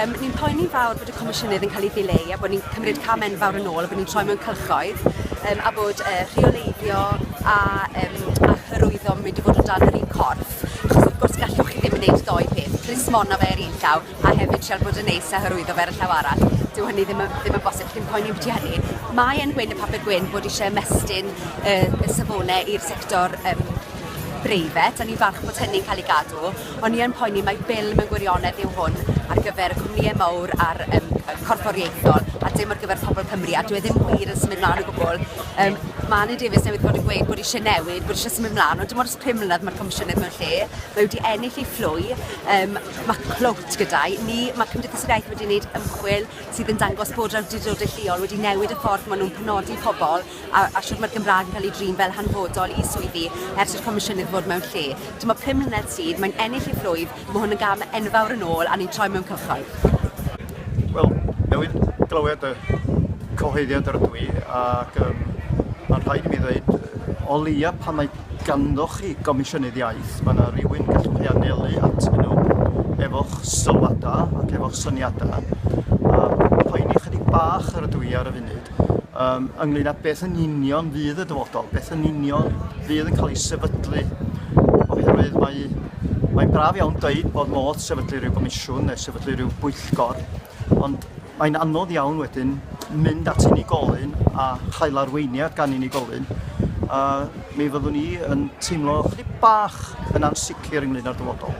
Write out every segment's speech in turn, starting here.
Um, ni'n poeni fawr bod y comisiynydd yn cael ei ddileu a bod ni'n cymryd cam enfawr yn ôl a bod ni'n troi mewn cylchoedd um, a bod uh, rheoleiddio a, um, a hyrwyddo yn mynd i fod o dan yr un corff achos wrth gwrs gallwch chi ddim yn gwneud ddoe peth, plismona fe ar un llaw a hefyd siarad bod yn neis a hyrwyddo fe ar y llaw arall, dyw hynny ddim yn, ddim yn bosib, chi'n poeni beth hynny. Mae yn gwyn y papur gwyn bod eisiau ymestyn y, y safonau i'r sector um, breifat, a ni'n falch bod hynny'n cael ei gadw, ond ni yn poeni mae bil mewn gwirionedd yw hwn ar gyfer y cwmnïau mawr a'r um, corfforiaethol, a dim ar gyfer pobl Cymru, a dwi e ddim wir yn symud mlaen o gwbl. Um, mae Anna Davies newydd bod yn gweud bod eisiau newid, bod eisiau symud mlaen, ond dim ond ys pum mlynedd mae'r comisiynedd mewn lle, mae wedi ennill ei fflwy, um, Mae clwt gyda ni, mae Cymdeithas yr Iaith wedi gwneud ymchwil sydd yn dangos bod yr awdurdodau lleol wedi newid y ffordd maen nhw'n penodi pobl a, a sut mae'r Gymraeg yn cael ei drin fel hanfodol i swyddi ers i'r Comisiynydd fod mewn lle. Dyma pum mlynedd sydd, mae'n ennill ei phlwyf, mae hwn yn gam enfawr yn ôl a ni'n troi mewn cychod. Wel, newydd glywed y cyhoeddiad yr ydw i ac um, mae'n rhaid i mi ddweud o leia pan mae Ganddoch chi Gomisiynydd Iaith, mae 'na rywun y gallwch chi anelu atyn nhw efo'ch sylwadau ac efo'ch syniadau. Yym, poeni ychydig bach yr ydw i ar y funud yym ynglŷn â beth yn union fydd y dyfodol, beth yn union fydd yn cael ei sefydlu, oherwydd mae mae'n braf iawn deud bod modd sefydlu rhyw gomisiwn neu sefydlu rhyw bwyllgor, Ond mae'n anodd iawn wedyn mynd at unigolyn a chael arweiniad gan unigolyn. A mi fyddwn ni yn teimlo chydig bach yn ansicr ynglyn â'r dyfodol.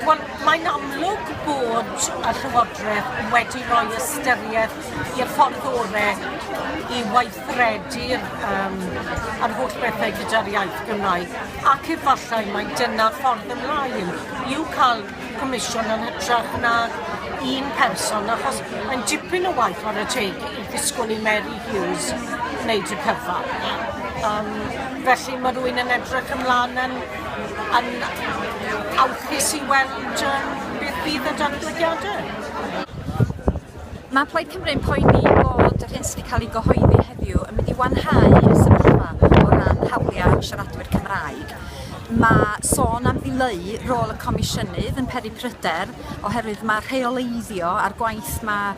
Wel, mae'n amlwg bod y Llywodraeth wedi rhoi ystyriaeth i'r ffordd orau i weithredu'r um, yr holl bethau gyda'r iaith Gymraeg ac efallai mae dyna ffordd ymlaen i'w cael comisiwn yn hytrach nag un person, achos mae'n dipyn o waith ar y teg i ddisgwyl i Mary Hughes wneud y cyfan. Um, felly mae rwy'n yn edrych ymlaen yn, yn awchus i weld um, beth bydd y datblygiadau. Mae Plaid Cymru yn poeni bod yr hyn sydd wedi cael ei gyhoeddi heddiw yn mynd i wanhau y sefyllfa o ran hawliau siaradwyr Cymraeg. Mae sôn am ddileu rôl y Comisiynydd yn peri pryder oherwydd mae rheoleiddio a'r gwaith mae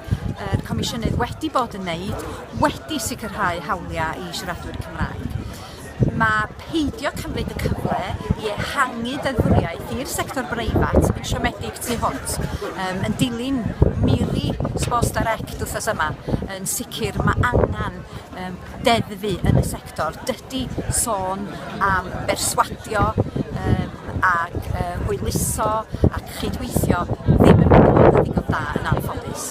yr Comisiynydd wedi bod yn wneud wedi sicrhau hawliau i siaradwyr Cymraeg. ma' peidio cymryd y cyfle i ehangu deddfwriaeth i'r sector breifat yn siomedig tu hwnt yym yn dilyn miri Sports Direct wthnos yma yn sicr ma' angan yym deddfu yn y sector dydi sôn am berswadio yym ag yy hwyluso ac chydweithio ddim yn mynd i fod yn ddigon da yn anffodus.